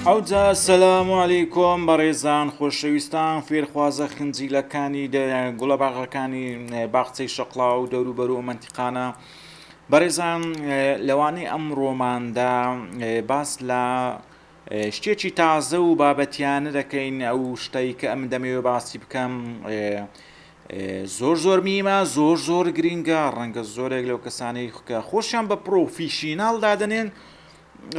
ئەوجا سەسلام و عەلی کۆم بەڕێزان خۆشەویستان فێرخوازە خنجیلەکانی گوڵە باغەکانی باخچەی شەقلا و دەوروبەر و منتیقانە بەڕێزان لەوانەی ئەم ڕۆماندا باس لە شتێکی تازە و بابەتیانە دەکەین ئەو شتەی کە ئەم دەمەوێ باسی بکەم زۆر زۆر میمە زۆر زۆر گرینگە ڕەنگە زۆرێک لەو کەسانەی خکە خۆشیان بە پرۆفیشینال دادنێن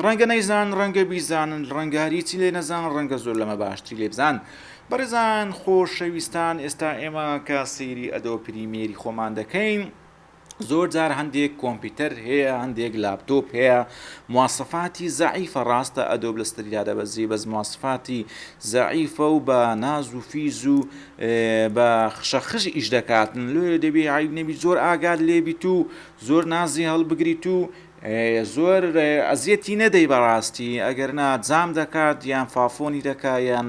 ڕەنگە نەیزان ڕەنگە بیزانن ڕەنگاریی لێ نەزان ڕەنگە زۆر لەمە باشتری لێ بزان بەڕێزان خۆشەویستان ئێستا ئێمە کە سەیری ئەدۆ پریمێری خۆمان دەکەین زۆر جار هەندێک کۆمپیوتەر هەیە هەندێک لاپتۆپ هەیە مواسفاتی زعیفە ڕاستە ئەدۆب لە ستریا دەبەزی بەس مواسفاتی زعیفە و بە ناز و فیز و بە خشەخش ئیش دەکاتن لێ دەبێ عیب نەبی زۆر ئاگات لێبیت و زۆر نازی هەڵبگریت و زۆر ئەزیەتی نەدەی بەڕاستی ئەگەر نا جام دەکات یان فافۆنی دەکا یان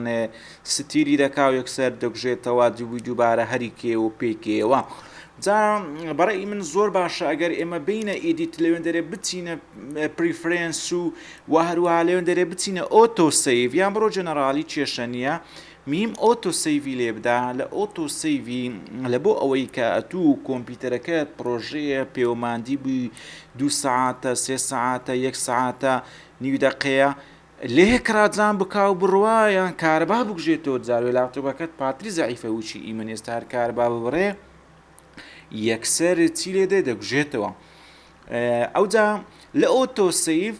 ستیلی دەکا و یەکسەر دەگوژێتەوە دووی دووبارە هەری کێ و پێکێەوە جا بەڕێی من زۆر باشە ئەگەر ئێمە بینە ئیدیت لەوێن دەرێ بچینە پریفرێنس و و هەروە لەوێن دەرێ بچینە ئۆتۆ سیڤ یان بڕۆ جەنەرالی کێشە نییە میم ئۆتۆ سەیڤی لێبدە لە ئۆتۆ سەیڤی لە بۆ ئەوەی کە ئەتوو کۆمپیتەرەکەت پڕۆژەیە پێوە ماندی بووی دوو سەعاتە سێ سەعاتە یەک سەعاتە نیو دەقەیە لێ کڕاجان بکا و بڕوا یان کارەبا بکوژێتەوە جار وێ لاپتۆپەکەت پاتری زەعیفە وچی ئی من ئێستا هەر کارەبا ببڕێ یەکسەر چی لێ دێ دەکوژێتەوە ئەوجا لە ئۆتۆ سەیڤ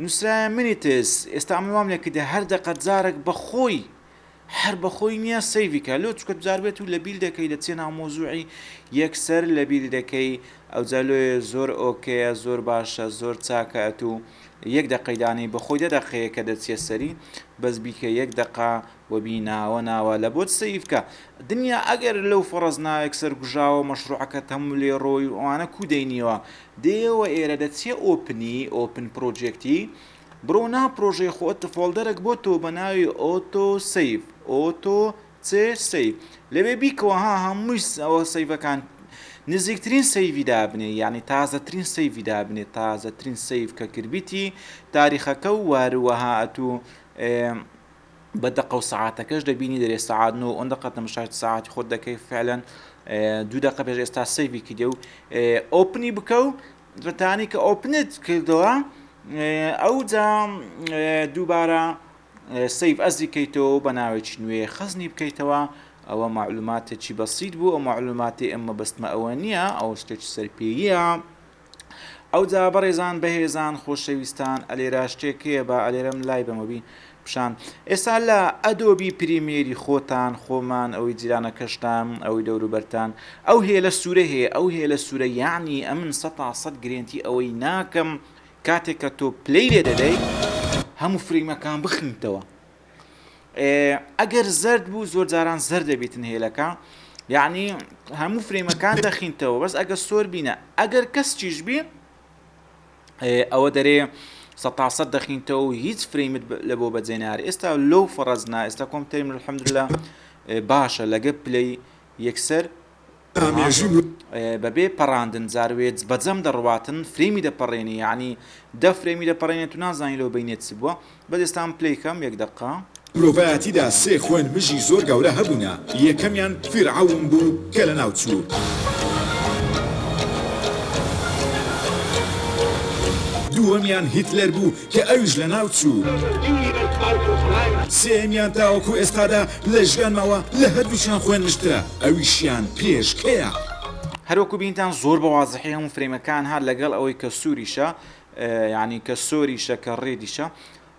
نوسرایە منی تس ئێستا من وام لێکردە هەر دەقە جارەک بەخۆی هەر بەخۆی نیە سەیڤی کا لۆ چکە جار بێت و لەبیر دەکەی دەچیە ناو مەوزوعی یەک سەر لەبیر دەکەی ئەوجا لۆیە زۆر ئۆکەیە زۆر باشە زۆر چاکە ئەتو یەک دەقەی دانێی بەخۆی دە دەقەیەکە دەچیە سەری بەس بیکە یەک دەقە وەبی ناوە ناوە لە بۆت سەیف کە. دنیا ئەگەر لەو فەڕەز ناوێک سەرکوژاوە مەشڕوعەکە تەموو لێڕۆی و ئەوانە کوو دەینیەوە دێیەوە ئێرە دەچیە ئۆپنی ئۆپن پڕۆجێکتی بڕۆ ناو پڕۆژەی خۆت فۆڵدەرەک بۆ تۆ بە ناوی ئۆتۆ سەیڤ ئۆتۆ چ سەیڤ لەوێ بیکەوە ها هەمووی ئەوە سەیڤەکان نزیکترین سەیڤی دابنێ یانی تازەترین سەیڤی دابنێ تازەترین سەیڤ کە کردبیتی تاریخەکە و واروەها ئەتوو بە دەقە و سەعاتەکەش دەبینی دەرێ سەعات نۆ ئەم دەقە تەمشاش سەعاتی خۆت دەکەی فعلەن دوو دەقە پێش ئێستا سەیڤی کردێ و ئۆپنی بکە و بەتانی کە ئۆپنت کردەوە ئەو جا دووبارە سیف ئەزی کەیتەوە بە ناوێکی نوێ خەزنی بکەیتەوە ئەوە معلوماتێکی بەسییت بوو ئەو معلوماتی ئەمە بەستمە ئەوە نییە ئەو شتێکی سەرپێیە ئەوجا بەڕێزان بەهێزان خۆشەویستان ئەلێرا شتێک هەیە با ئەلێرەم لای بەمە بی پیشان ئێستا لە ئەدۆبی پریمیەری خۆتان خۆمان ئەوی جیرانەکەشتان ئەوی دەوروبەرتان ئەو هێلە سوورە هەیە ئەو هێلە سوورە یانی ئەمن سەتا سەد گرێنتی ئەوەی ناکەم کاتێک کە تۆ پلەی لێ دەدەی هەموو فریمەکان بخنیتەوە ئەگەر زەرد بوو زۆر جاران زەر دەبیتن هێلەکە یعنی هەموو فرێمەکان دەخینتەوە بەس ئەگە سۆر بینە ئەگەر کەس چیش بێ ئەوە دەرێ سەتاسە دەخینتەوە و هیچ فرەیمت لە بۆ بەجێنار ئێستا لەو فڕەزنا ئێستا کۆمپتەریم الحمدلله باشە لەگە پلەی یەکسەر ئامێژی بەبێ پەڕاندن جار وێج بەجەم دەڕواتن فرێمی دەپەڕێنی یانی دە فرێمی دەپەڕێنێت تو نازانی لەو بینێت چ بووە بەس ئێستام پلەی کەم یەک دەقە. مرۆڤایەتیدا سێ خوێن مژی زۆر گەورە هەبوونە یەکەمیان فیرعەون بوو کە لەناو چوو. دووەمیان هیتلەر بوو کە ئەویش لەناو چوو. سێیەمیان تاوەکو ئێستادا لە ژیان ماوە، لە هەردووکیان خۆێن نشترە، ئەویشیان پێشکەیە. هەر وەکو بینتان زۆر بە وازحی هەموو فرەیمەکان هات لەگەڵ ئەوەی کە سووریشە یانی کە سۆریشە کە ڕێدیشە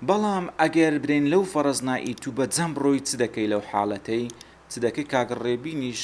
بەڵام ئەگەر برێین لەو فەڕەز نا ئیتوو بە جەم بڕۆی چ دەکەی لەو حاڵەتەی چ دەکەی کاک ڕێبینیش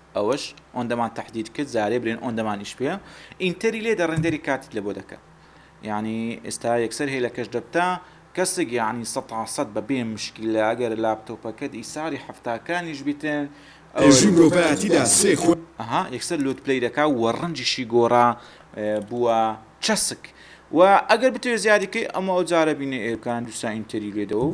ئەوەش ئۆندەمان تەحدید کرد زارێ برێن ئۆندەمانیش پێ ئینتەری لێدە ڕێندەری کاتت لەبۆ دەکا یانی ئێستا یەکسەر هێلەکەش دەبتە کەسێک یانی سەد تا سەد بە بێ مشکیلە ئەگەر لاپتۆپەکەت ئیساری حەفتا کانیش بیتن ئەوەش ئێژی مرۆڤایەتیدا سێ خو. ئەها یەکسەر لۆت پلەی دەکا و ڕەنجیشی گۆڕا بووە چەسک وە ئەگەر بتەوێ زیادی کەی ئەمە ئەوجارە بینێ ئێرکان دووسا ئینتەری لێدەوە و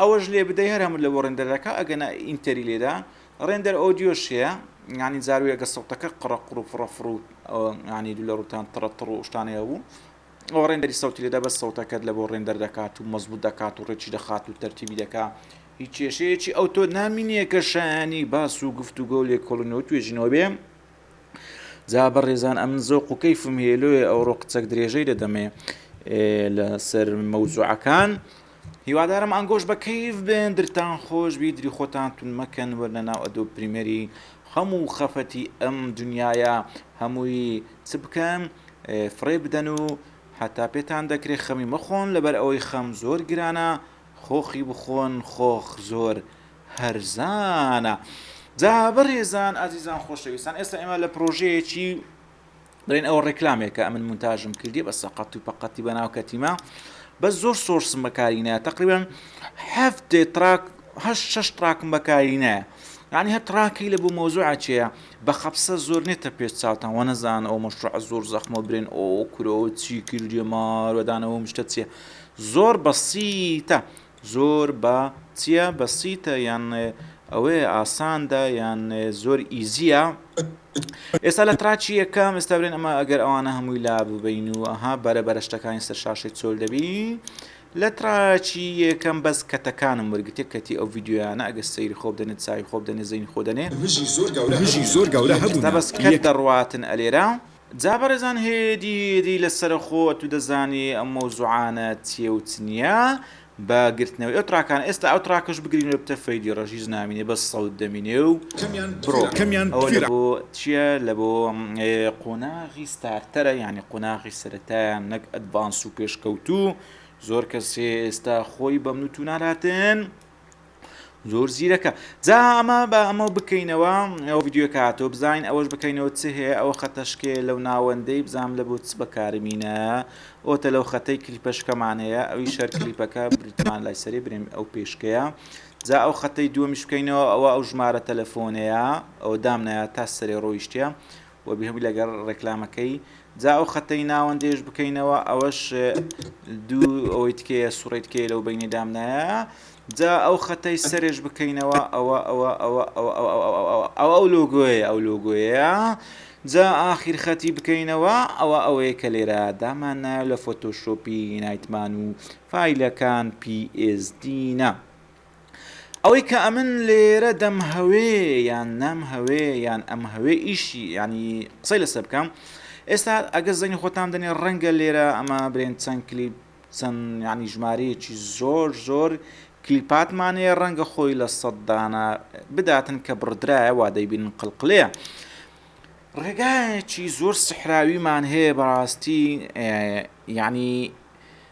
ئەوەش لێ بدەی هەر هەموو لە بۆ ڕێندەرەکە ئەگەنا ئینتەری لێدا ڕێندەر ئۆدیۆش هەیە ینی زارویەگە سەوتەکە قڕە قڕ و فڕە فڕ و ینی دوو لە ڕوتان تڕە تڕ و شتانەیە بوو ئەو ڕێندەری سەوتی لێدا بە سەوتەکەت لە بۆ ڕێندەر دەکات و مەزبوط دەکات و ڕێکی دەخات و تەرتیبی دەکات هیچ کێشەیەکی ئەو تۆ نامینیە کە شایانی باس و گفتوگۆ لێکۆڵنەوە توێژینەوە بێ جا بەڕێزان ئەم زۆق و کەیفم هێلوێ ئەوڕۆ قچەک درێژەی دەدەمێ لە سەر مەوزوعەکان هیوادارم ئەنگۆش بە کەیف بێن درتان خۆش بی دری خۆتان تون مەکەن وەرنە ناو ئەدۆ پریمەری هەموو خەفەتی ئەم دنیاە هەمووی چ بکەن فڕێ بدەن و هەتا پێتان دەکرێت خەمی مەخۆن لەبەر ئەوەی خەم زۆر گرانە خۆخی بخۆن خۆخ زۆر هەرزانە. جا بەڕێزان ئازیزان خۆشەویستان ئێستا ئێمە لە پرۆژەیەکی بڵێن ئەوە ڕێکلامێکە ئەمن مونتاژم کردی بە سەقەت و پەقەتی بە ناو کەتیمە بە زۆر سۆرسم بەکاری نایە تقریبان هەفتێ تراک هە شش تراکم بەکاری نایە یعنی هە تراکی لە بۆ مۆزوعچەیە بە خەپسە زۆر نێتە پێش چاوتان وە نەزان ئەو مەشروع زۆر زەخمە برێن ئۆ کرۆ چی کردێ ماوەدانەوە مشتە چیە زۆر بەسیتە زۆر با چیە بە سیتە یان ئەوەیە ئاساندە یان زۆر ئیزیە ئێستا لە تراچی یەکەم ئێستا برێن ئەمە ئەگەر ئەوانە هەمووی لا ببین و ئەها بەرە بەرە شتەکانی سەر شاشی چۆل دەبی لە تراچی یەکەم بەس کەتەکانم وەرگتێک کەتی ئەو یددیویانە ئەگە سەیری خۆب دەنێت چاوی خۆب دەنێ زەین خۆ دەنێ بژی زۆر گەورە هەبوو بەس کە دەڕاتن ئەلێرە جا بەڕێزان هەیەیی دی لە سەرە خۆ ئەتوو دەزانی ئەم مەوزوعانە چیە و چ نیە بە گرتنەوەی ئەو تڕاکانە ئێستا ئەو تڕاکەش بگرینەوە بتە فەیدی ڕەشیز نامینێ بەس سەوت دەمینێ و بڕۆ ئەوە لە بۆ چیە لە بۆ قۆناغی ستارتەرە یعنی قۆناغی سەرەتایان نەک ئەدڤانس و پێشکەوتوو زۆر کەسێ ئێستا خۆی بەمنوتو نالاتن زۆر زیرەکە جا ئەمە بە ئەمە بکەینەوە ئەو ڤیددیو کە هاتۆ بزانین ئەوەش بکەینەوە چ هەیە ئەوە خەتەشکێ لەو ناوەندەی بزانام لە بۆ چ بەکارمینە ئۆتە لەو خەتەی کلیپەشکەمان هەیە ئەوی شەر کلیپەکە بریتمان لای سەری برێن ئەو پێشکەیە جا ئەو خەتەی دووەمیش بکەینەوە ئەوە ئەو ژمارە تەلەفۆنەیە ئەو دامنایە تا سەرێ ڕۆیشتە و بێ هۆی لەگەر ڕێکلامەکەی جا ئەو خەتەی ناوەندێش بکەینەوە ئەوەش دوو ئەوەی تکەیە سوڕی تکەیە لەو بینی دامنایە جا ئەو خەتەی سەرێش بکەینەوە ئەوە ئەوە ئەوە ئەوە ئەو ئەو لۆگۆیە ئەو لۆگۆیە جا ئاخیر خەتی بکەینەوە ئەوە ئەوەیە کە لێرە دامان نایە لە فۆتۆشۆپی نایتمان و فیلەکان PSD نە. ئەوەی کە ئەمن لێرە دەمهەوێ یان نامهەوێ یان ئەمهەوێ ئیشی ینی قسەی لەسەر بکەم ئێستا ئەگەر زەنی خۆتان دەنێ ڕەنگە لێرە ئەمە برێن چەند کلیپ چەند ینی ژمارەیەکی زۆر زۆر کلیپاتمانەیە ڕەنگە خۆی لە سەددانە بداتن کە بڕدرایە وا دەیبین قلقلەیە. ڕێگایەکی زۆر سحراویمان هەیە بەڕاستی یعنی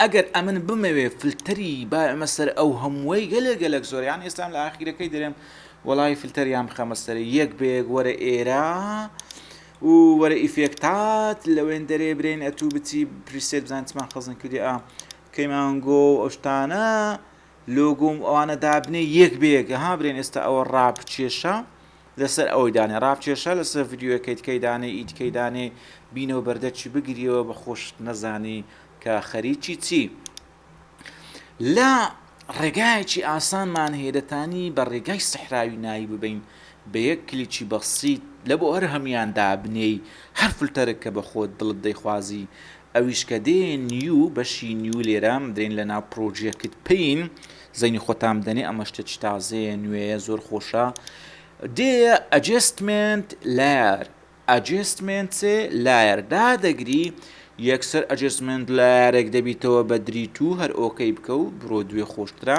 ئەگەر ئەمن بمەوێ فلتەری بایەمە سەر ئەو هەمووەی گەلێ گەلەک زۆر یان ئێستام لە ئاخیرەکەی دەرێم وەڵای فلتەریان بخەمە سەر یەک بەیەک وەرە ئێرە و وەرە ئیفێکتات لەوێن دەرێ برێن ئەتوو بچی پریسێت بزان چمان خەزن کردی ئا کەیمانگۆ و ئەشتانە لۆگۆم ئەوانە دابنێ یەک بێگە ها برێن ئێستا ئەوە ڕاپ کێشە لەسەر ئەوەی دانێ ڕاپ کێشە لەسەر ڤیدیۆیەکەی تکەی دانێ ئی تکەی دانێ بینەو بەردەرچی بگریەوە بە خۆشت نەزانی کە خەریکی چی لە ڕێگایەکی ئاسانمان هەیە دەتانی بە ڕێگای سەحراوی ناوی ببین بە یەک کلیکی بەسیت لە بۆ هەر هەمیان دابنێی هەر فلتەرێک کە بە خۆت دڵت دەیخوازی ئەویش کە دێن نیو بەشی نیو لێرە دەین لە ناو پرۆجێکت پین زەینی خۆتام دەنێ ئەمە شتە چ تازەیە نوێیە زۆر خۆشە دێ ئەجێستمنت لار ئەجێستمنت لایەر دادەگری یەکسەر ئەجێستمنت لارێک دەبیتەوە بە دری تو هەر ئۆکەی بکە و بڕۆ دوێ خۆشترە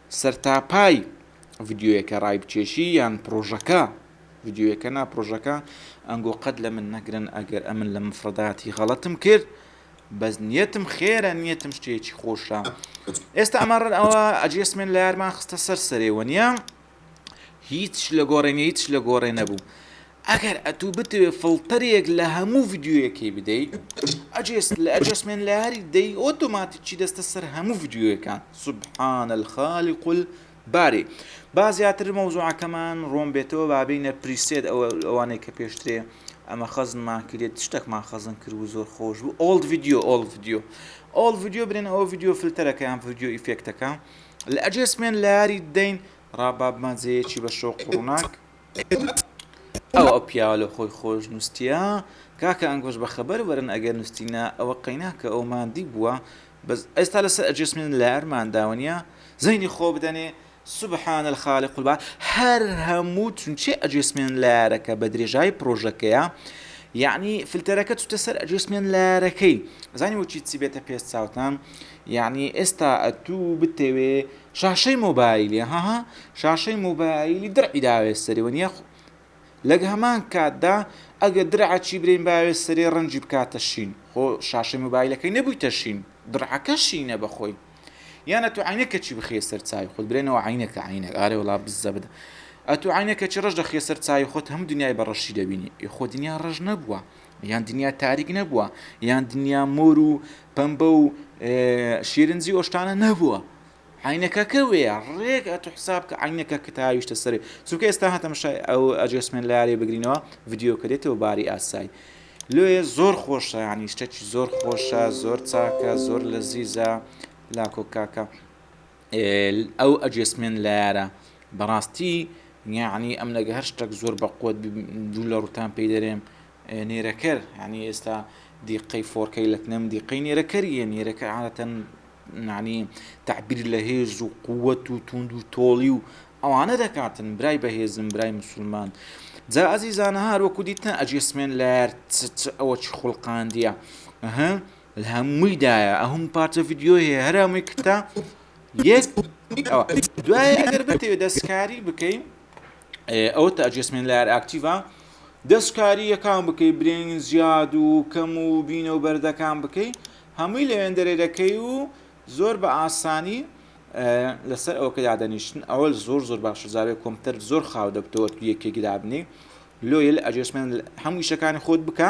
سەرتاپای ڤیدیۆیەکە ڕایبکێشی یان پڕۆژەکە ڤیدیۆیەکە نا پڕۆژەکە ئەنگۆ قەت لە من نەگرن ئەگەر ئەمن لە مفڕداتی غەڵەتم کرد بەس نیەتم خێرە نیەتم شتێکی خۆشە ئێستا ئەمەڕن ئەوە ئەجێسمێن لە یارمان خستە سەر سەرێ وەنیە هیچ لە گۆڕێنە هیچ لە گۆڕێ نەبوو ئەگەر ئەتوو بتەوێ فڵتەرێک لە هەموو ڤیدیۆیەکەی بدەی ئەجێس لە ئەجێسمێنت لەاری دەی ئۆتۆماتیکی دەستە سەر هەموو ڤیدیۆیەکان سبحان الخالق الباری با زیاتر مەوزوعەکەمان ڕۆم بێتەوە با بینە پریسێت ئەوە ئەوانەی کە پێشترێ ئەمە خەزنمان کرێت شتەکمان خەزن کرد و زۆر خۆش بوو ئۆڵد ڤیدیۆ ئۆڵ ڤیدیۆ ئۆڵ ڤیدیۆ برێن ئەوە ڤیدیۆ فلتەرەکەیان ڤیدیۆ ئیفێکتەکە لە ئەجێسمێن لاری دەین ڕابابمان جەیەکی بە شەو قوڕناک ئەوە ئەو پیاوە لۆ خۆی خۆش نوستیە. کاکە ئەنگۆش بە خەبەر وەرن ئەگەر نوستینە ئەوە قەینا کە ئەو ماندی بووە بەس ئێستا لەسەر ئەجێسمێنت لەیار مانداوە نیە زەینی خۆ بدەنێ سبحان الخالق البا هەر هەموو چونچێ ئەجێسمێنت لەیارەکە بە درێژایی پرۆژەکەیە یعنی فلتەرەکە چوتە سەر ئەجێسمێنت لەیارەکەی زانی وەچی چی بێتە پێست چاوتان یعنی ئێستا ئەتوو بتەوێ شاشەی مۆبایلی هەها شاشەی مۆبایلی درعی داوێ سەری وە نیە لەگ هەمان کاتدا ئەگە درعەچی برین باوێ سەرێ ڕەنجی بکاتە شین خۆ شاشەی مۆبایلەکەی نەبوویتە شین درعەکە شینە بەخۆی یانە تو عینە کەچی بخێ سەر چاوی خۆت برێنەوە عینەکە عینە ئارێ وڵا بزە بدە ئەتو عینە کەچی ڕژ دەخێ سەر چاوی خۆت هەم دنیای بە ڕەشی دەبینی خۆ دنیا ڕژ نەبووە یان دنیا تاریک نەبووە، یان دنیا مۆر و پەمبە و شیرنجی ئەو شتانە نەبووە. عینەکەکە وەیە ڕێک ئەت و حساب کە عینەکە کە تاویشتە سەرێ چونکە ئێستا هاتەم شای ئەو ئەجێسمێن لارێ بگرینەوە ڤیددیو کە دێتەوە باری ئاسای لێ زۆر خۆشە ینی شتێکی زۆر خۆشە زۆر چاکە زۆر لە زیزە لاکۆکاکە ئەو ئەجێسمێن لایارە بەڕاستی یانی ئەم لەگە هەر شتێک زۆر بە قوت دوو لە ڕوتان پێی دەرێم نێرەکەر ینی ئێستا دیقەی فۆرکەی لەتنم دیقەی نێرەکەریە نێرەکە عادەتەن نانی تعبیر لە هێز و قووەت و توند و تۆڵی و ئەوانە دەکاتن برای بەهێزم برای مسلمان جا ئازیزانە هەروەکو دیتە ئەجێسمێن لە ئەوە چ خوڵقاندە. لەهەمووی دایە ئەهم پارچە ڤیدیۆ هەیە هەرامووی کتە یەک ئەوە دوایە ئەگەر بتەوێت دەستکاری بکەین ئەوە تا ئەجێسمێن لار ئاکتیڤە دەستکاری یەکان بکەی برێن زیاد و کەم و بینە و بەردەکان بکەی هەمووی لەوێن دەرێ دەکەی و زۆر بە ئاسانی لەسەر ئەوکە دادەنیشتن ئەوە زۆر زۆر باشە زارێ کۆمپتەر زۆر خاو دەبتەوە یەکێک دابنی لۆیل ئەجێسمێن هەموو شەکانی خۆت بکە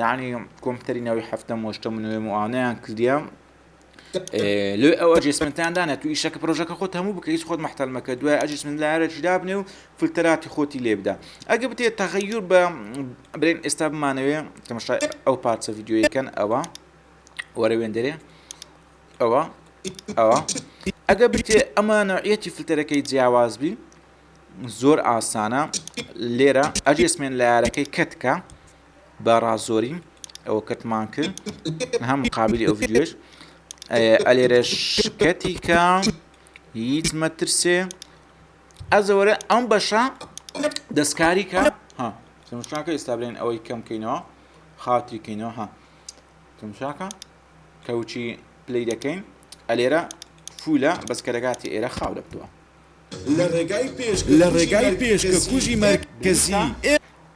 یەعنی کۆمپیوتەری ناوی حەفتەم وەشتەم نوێ موانەیان کردیان لێ ئەو ئەجسمنتان دانێت تو ئیشەکە پرۆژەکە خۆت هەموو بکە هیچ خۆت محتەلمەکە دوای ئەجسمن لارەکی دابنێ و فلتەراتی خۆتی لێبدا ئەگە بتێت تەغەیور بە برێن ئێستا بمانەوێ تەمەشای ئەو پارچە یددیوەکەن ئەوە وەرە وێندەرێ ئەوە ئەوە ئەگە بتێ ئەمە نوعەتی فلتەرەکەی جیاواز بی زۆر ئاسانە لێرە ئەجسمێن لارەکەی کەتکە بارا زۆری ئەوەکەتمان کرد نها مقابلی ئەو ڤیددیوش ئەلێرە شکەتی کە هیچ مەترسێ ئەزەوەرە ئەم بەشە دەستکاری کە ها تمشاکە ئێستا بلێن ئەوەی کەم کەینەوە خاتی کەینەوە ها تمشاکە کەوچی پلی دەکەین ئەلێرە فولە بەس کەرەگاتی ئێرە خاو دەبتووە لە ڕێگای پێش لە ڕێگای پێش کە کوژی مەرکەزی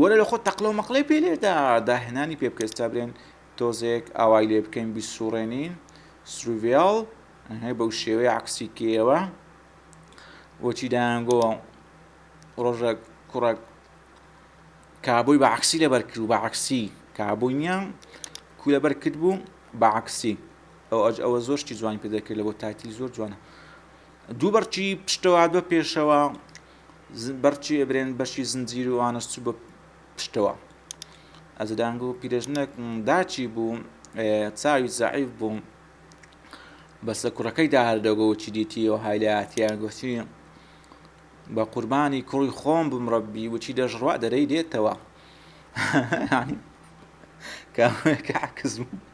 وەرە لەخۆت تەقلەو مەقلەی پێ لێدە داهێنانی پێ بکە ئێستا برێن تۆزێک ئاوای لێ بکەین بیسوڕێنین سروڤێڵ هەی بەو شێوەیە عکسی کێوە بۆچی دایانگۆ ڕۆژێک کوڕێک کابووی بە عکسی لەبەر کرد و بە عکسی کابووی نییە کو لەبەر کرد بوو بە عکسی ئەو ئەج ئەوە زۆر شتی جوانی پێ دەکرد لە بۆ تایتلی زۆر جوانە دوو بەرچی پشتەوە دو پێشەوە بەرچی ئەبرێن بەشی زنجیر و ئانەس چوو بە پشتەوە ئەز دەنگ و پیرێژنێک داچی بوو چاوی زعیف بوو بەسە کوڕەکەیدا هەردەگۆ و چی دیتیەوە هایلاتیان گوتی بە قوربانی کوڕی خۆم بم ڕەبی وچی دەژڕوا دەرەی دێتەوە کامەکە حەکز بوو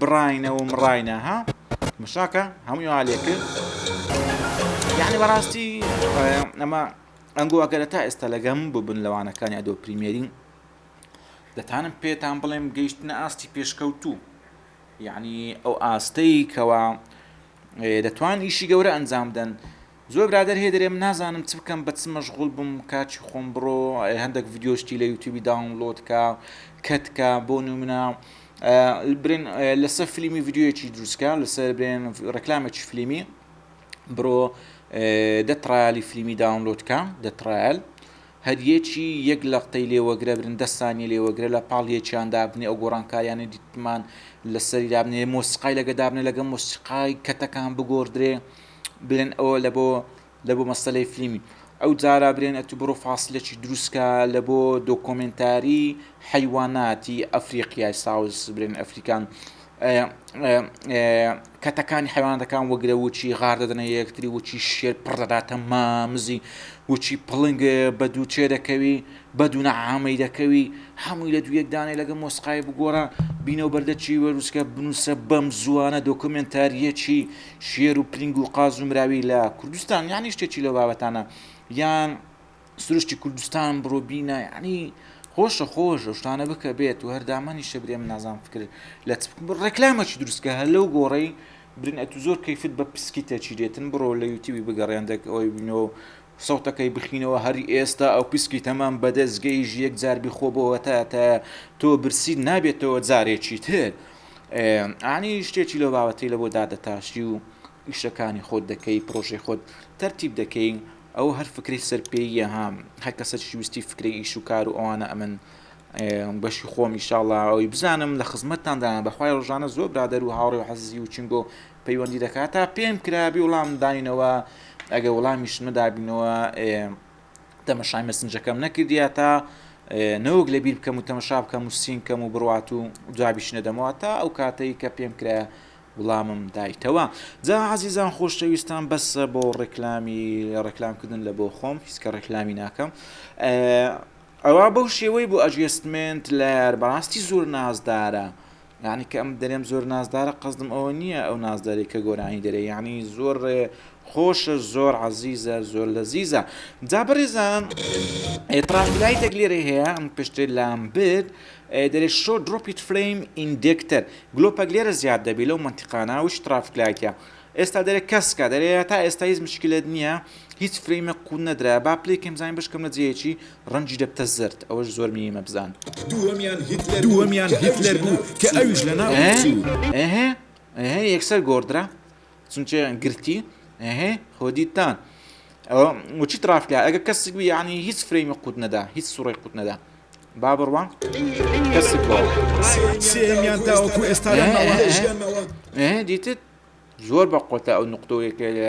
بڕاینە و مڕاینە ها مشاکە هەمووی وا لێ کرد یعنی بەڕاستی ئەمە ئەنگۆواکەرە تا ئێستا لەگەم ببن لەوانەکانی ئەدۆ پریمێرین دەتانم پێتان بڵێم گەیشتنە ئاستی پێشکەوتوو یعنی ئەو ئاستەی کەوا دەتوان ئیشی گەورە ئەنجام بدەن زۆر برادەر هەیە دەرێم نازانم چ بکەم بە چ مەشغول بم کاچی خۆم بڕۆ هەندێک ڤیدیۆ شتی لە یوتیوبی داونلۆد کا کەت کا بۆ نمونە برێن لەسەر فلیمی ڤیددیوەکی دروستکە لەسەر برێن ڕکلامێکی فلیمی بڕۆ دەتڕالی فلیمی داونلۆدکە دەتڕال هەریەکی یەک لە قتەی لێوەگرە برن دەستانی لێوەگرە لە پاڵ یەکیان دابنێ ئەو گۆڕانکاریانی دیتمان لەسەری دابنێ مۆسیقای لەگە دابنێ لەگە مۆسیقای کەتەکان بگۆدرێ برێن ئەوە لە بۆ لە بۆ مەسەلەی فلیمی ئەو جارا برێن ئەتو بڕۆ فاسلەکی دروستکە لە بۆ دۆکۆمنتاری حیواناتی ئەفریقیای ساوز برێن ئەفریکان کەتەکانی حیوانەکان وەگرە وچی غار دەدەنە یەکتری وچی شێر پڕ دەداتە مامزی وچی پڵنگ بە دوو چێ دەکەوی بە دوو نەعامی دەکەوی هەمووی لە دوو یەکدانێ لەگە مۆسقای بگۆڕە بینەوە بەردەچی وەروسکە بنووسە بەم زووانە دۆکمنتاریەکی شێر و پرینگ و قاز و مراوی لە کوردستان یانی شتێکی لەو بابەتانە یان سروشتی کوردستان بڕۆ بینە یعنی خۆشە خۆش شتانە بکە بێت و هەردامانی شەبرێ من نازان فکر لە ڕێکلامەکی دروستکە هەر لەو گۆڕی برن ئەتو زۆر کەیفت بە پسکیتە چیرێتن بڕۆ لە یوتیوی بگەڕێندێک ئەوەی بینەوە سەوتەکەی بخینەوە هەر ئێستا ئەو پسکی تەمام بەدەست گەیژ یەک جار بیخۆ بۆ وەتاتە تۆ برسیت نابێتەوە جارێکی تر ئانی شتێکی لەو باوەتەی لە بۆ دادەتاشی و ئیشەکانی خۆت دەکەی پرۆژەی خۆت تەرتیب دەکەی ئەو هەر فکری سەرپێیە ها هەر کەسە شویستی فکری ئیش و کار و ئەوانە ئەمن بەشی خۆم ئیشاڵا ئەوی بزانم لە خزمەتتاندان بەخوای ڕژانە زۆر برادەر و هاوڕێ و حەزی و چنگۆ پەیوەندی دەکات تا پێم کرابی وڵام داینەوە ئەگە وڵامیش مەدابینەوە تەمەشای مەسنجەکەم نەکردیا تا نەوەک لە بیر بکەم و تەمەشا بکەم و سین کەم و بڕات و جوابیش نەدەمەوە تا ئەو کاتەی کە پێم کرا وڵامم دایتەوە جا عزیزان خۆشەویستان بەس بۆ ڕێکلامی ڕێکلامکردن لە بۆ خۆم هیچکە ڕێکلامی ناکەم ئەوە بەو شێوەی بۆ ئەجستمنت لەر بەڕاستی زۆر نازدارە یانی کە ئەم دەرێم زۆر نازدارە قەزدم ئەوە نییە ئەو نازداری کە گۆرانی دەرێ یانی زۆر خۆشە زۆر عزیزە زۆر لە زیزە جا بەڕێزان ئێترافلایتێک لێرە هەیە ئەم پشتێ لام برد دەێ شۆ درۆپیت فریم ئیندێکتەر گلۆپەک لێرە زیاد دەبی لەو منتیقانە وش ترافلایتە ئێستا دەێ کەسکە دەێ تا ئێستا هیچ مشکلت نییە هیچ فرەیمە قوون نەدرا با پلێکم زانین بشکم لە جێکی ڕەنگی دەبتە زەرد ئەوەش زۆر مینی مەبزان. دووەمیان هیتلەر بوو کە ئەویش لە ناو چوو. ئه ئه یەکسەر گۆڕدرا چونکە گرتی ئه خۆ دیتتان ئەوە وچی تڕاف کرا ئەگە کەسک بوو یعنی هیچ فرەیمی قووت نەدا هیچ سوڕی قووت نەدا با بڕوام کەسک سێمیان تاوەکو ئێستا دیتت زۆر بە قۆتە ئەو نقطەوەیەکە لە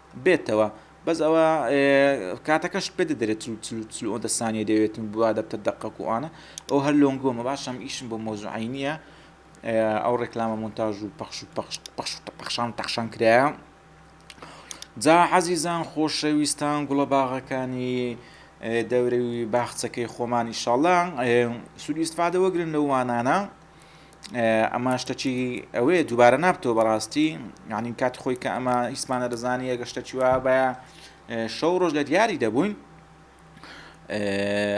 بێتەوە بەس ئەوە کاتەکەشت پێ دەدرێت چل چل چل و ئەوەندە سانیە دەوێت و بوا دەبتە دەقەک و ئەوانە ئەو هەر لۆنگۆمە باشم ئیشم بۆ مۆزوعی نییە ئەو ڕێکلامە مونتاژ و پەخش و پەخش پەخش و پەخشان تەخشان کرایە جا عەزیزان خۆشەویستان گوڵە باغەکانی دەورەوی باخچەکەی خۆمان ئیشاڵا سوودی ئیسفادە وەگرن لەو وانانە ئەمە شتە چی ئەوەیە دووبارە نابتەوە بەڕاستی یعنی کات خۆی کە ئەمە هیچمانە دەزانانی ئەگە شتە چیوا بە شەو ڕۆژ لە دیاری دەبووین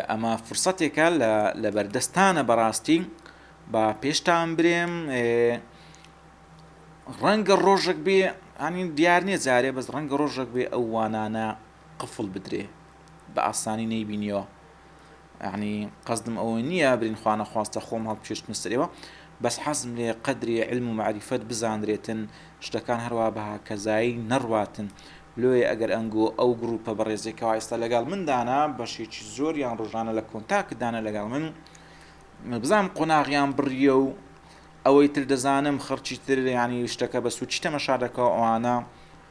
ئەمە فرسەتێکە لە بەردەستانە بەڕاستی با پێشتان برێم ڕەنگە ڕۆژێک بێ ئەنی دیار نیە جارێ بەس ڕەنگە ڕۆژێک بێ ئەو وانانە قفڵ بدرێ بە ئاسانی نەیبینیەوە یەعنی قەسدم ئەوە نییە برین خوانەخواستە خۆم هەڵبکێشتمە سەرەوە بەس حەزم لێ قەدری علم و معریفەت بزانرێتن شتەکان هەروا بەهاکەزایی نەڕواتن لۆیە ئەگەر ئەنگۆ ئەو گروپە بەڕێزێک کەوا ئێستا لەگەڵ مندانە بەشێکی زۆر یان ڕۆژانە لە کۆنتاکدانە لەگەڵ من بزانم قۆناغیان بڕیە و ئەوەی تر دەزانم خەرچی تر ینی شتەکە بە سوچی تەمەشا دەکەەوە ئەوانە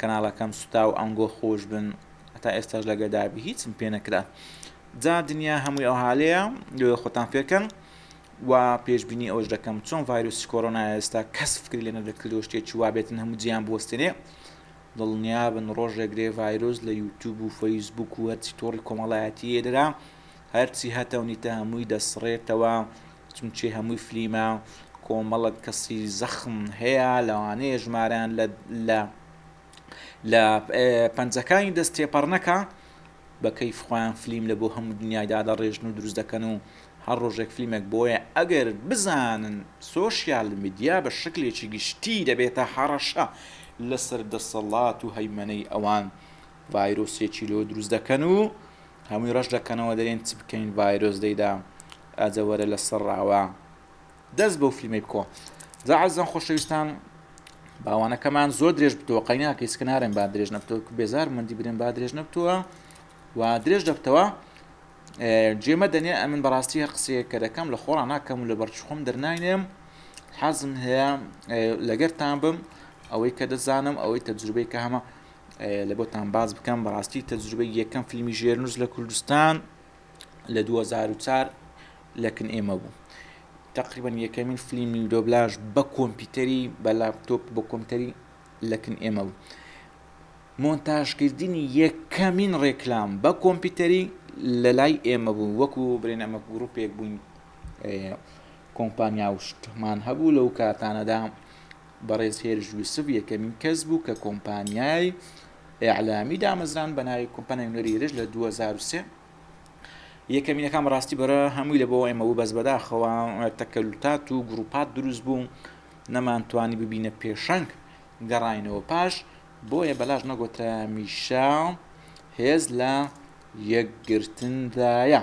کەناڵەکەم سوتاو ئەنگۆ خۆش بن هەتا ئێستاش لەگەدابی هیچم پێ نەکرا جا دنیا هەمووی ئەو حالەیە لێ خۆتان فێرکەن و پێشببینی ئەوش دەکەم چۆن ڤایرۆسی کۆرۆنا ئێستا کەس فکری لێنە دەکردەوە شتێکی وابێتن هەموو جیان بوەستێنێ دڵنیابن ڕۆژێگرێ ڤایرۆس لە یوتوب و فەیسبوک و هەرچی تۆڕی کۆمەڵایەتی ئێدرا هەرچی هەتەونیتە هەمووی دەسڕێتەوە چونچی هەمووی فلیمە کۆمەڵک کەسی زەخم هەیە لەوانەیە ژمارەیان لە لە لە پەنجەکانی دەست تێپەڕنەکە بە کەیف خۆیان فلیم لە بۆ هەموو دنیایدا دەڕێژن و دروست دەکەن و هەر ڕۆژێک فلیمێک بۆیە ئەگەر بزانن سۆشیال میدیا بە شکلێکی گشتی دەبێتە هەڕەشە لەسەر دەسەڵات و هەیمەنەی ئەوان ڤایرۆسێکی لۆ دروست دەکەن و هەمووی ڕەش دەکەنەوە دەرێن چ بکەین ڤایرۆس دەیدا ئاجە وەرە لە سڕاوە دەست بەو فیلمەی بکۆ جا عزم خۆشەویستان باوانەکەمان زۆر درێژ بتەوە قەینا کەیس کنارم با درێژ نەبتەوە بێزار مندی برێن با درێژ نەبتووە و درێژ دەبتەوە جێمە دەنێ ئەمن بەڕاستی هەر قسەیە کە دەکەم لە خۆڕان ناکەم و لە بەرچخۆم دەرناینێم حەزم هەیە لەگەرتان بم ئەوەی کە دەزانم ئەوەی تەجروبەی کە هەمە لە بۆتان باز بکەم بەڕاستی تەجروبەی یەکەم فیلمی ژێرنووس لە کوردستان لە دوو هەزار و چار لە کن ئێمە بوو تقریبا یەکەمین فلیمی دۆبلاژ بە کۆمپیوتەری بە لاپتۆپ بە کۆمپیوتەری لە کن ئێمە بوو مۆنتاژکردنی یەکەمین ڕێکلام بە کۆمپیوتەری لە لای ئێمە بوو وەکو برێن ئەمە گروپێک بووین کۆمپانیا و شتمان هەبوو لەو کاتانەدا بەڕێز هێرش یوسف یەکەمین کەس بوو کە کۆمپانیای ئیعلامی دامەزراند بە ناوی کۆمپانیای نوێری هێرش لە 2023 یەکەمینەکان ڕاستی بەرە هەمووی لە بۆ ئێمە بوو بەس بەداخەوە تەکەلوتات و گروپات دروست بوو نەمانتوانی ببینە پێشەنگ گەڕینەوە پاش بۆیە بەلاش نەگۆترا میشا هێز لە یەکگرتندایە.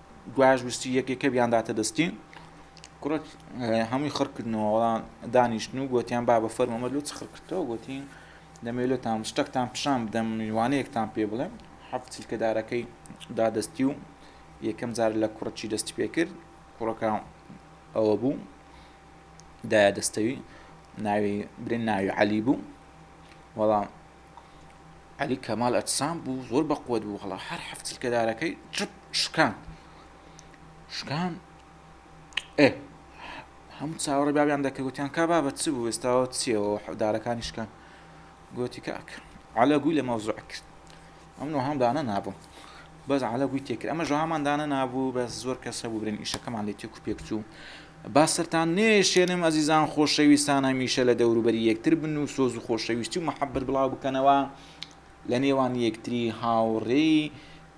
گوایش ویستی یەک یەکە بیانداتە دەستی کوڕە هەمووی خڕ کردنەوە وەڵام دانیشتن و گوتیان با بە فەرمەمە لۆ چ خڕ کردەوە گوتی دەمێلۆتان شتەکتان پیشان بدەم میوانەیەکتان پێ بڵێم حەفت چلکەدارەکەی دادەستی و یەکەم جار لە کوڕەچی دەستی پێ کرد کوڕەکە ئەوە بوو دایە دەستەوی ناوی برێن ناوی عەلی بوو وەڵام عەلی کەمال ئەجسام بوو زۆر بەقوەت بوو هەڵا هەر حەفت چرکەدارەکەی چپ شکان شکان ئێ هەموو چاوەڕێ بابیان دەکەوتیان کا بابەت چ بوو ئێستاوە چیەوە دارەکانی شکان گوتی کاک عەلە گوی لە مەوزوع کرد ئەم نۆ هەم دانە نابووم بەس عەلە گوی تێکرد ئەمە ژەوامان دانەنابوو بەس زۆر کەس هەبوو برێن ئیشەکەمان لێ تێکو پێک چوو با سەرتان نێشێنم ئەزیزان خۆشەویستان هەمیشە لە دەوروبەری یەکتر بن و سۆز و خۆشەویستی و محەبەت بڵاو بکەنەوە لە نێوان یەکتری هاوڕێی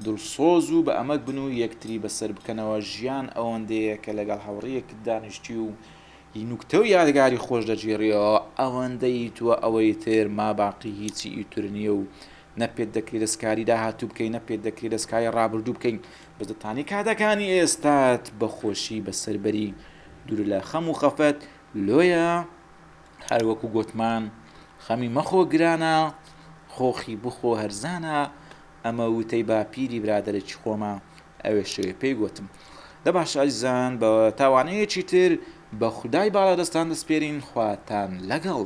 دڵسۆز و بە ئەمەک بن و یەکتری بەسەر بکەنەوە ژیان ئەوەندەیە کە لەگەڵ هاوڕێیەکت دانیشتی و هی نوکتە و یادگاری خۆش دەگێڕیەوە ئەوەندە ئیتوە ئەوەی تر ماباقی هیچی ئیتر نیە و نە پێت دەکرێ دەستکاری داهاتوو بکەی نە پێت دەکرێ دەستکاری ڕابردوو بکەی بەس دەتانی کاتەکانی ئێستات بە خۆشی بەسەر بەری دوور لە خەم و خەفەت لۆیە هەروەکو گۆتمان خەمی مەخۆ گرانە خۆخی بخۆ هەرزانە ئەمە وتەی باپیری برادێکی خۆمە ئەوێ شوێ پێی گوتم دە باش ئازیزان بە تاوانەیەکی تر بە خودای باڵا دەستان دەستپێرین خواتان لەگەڵ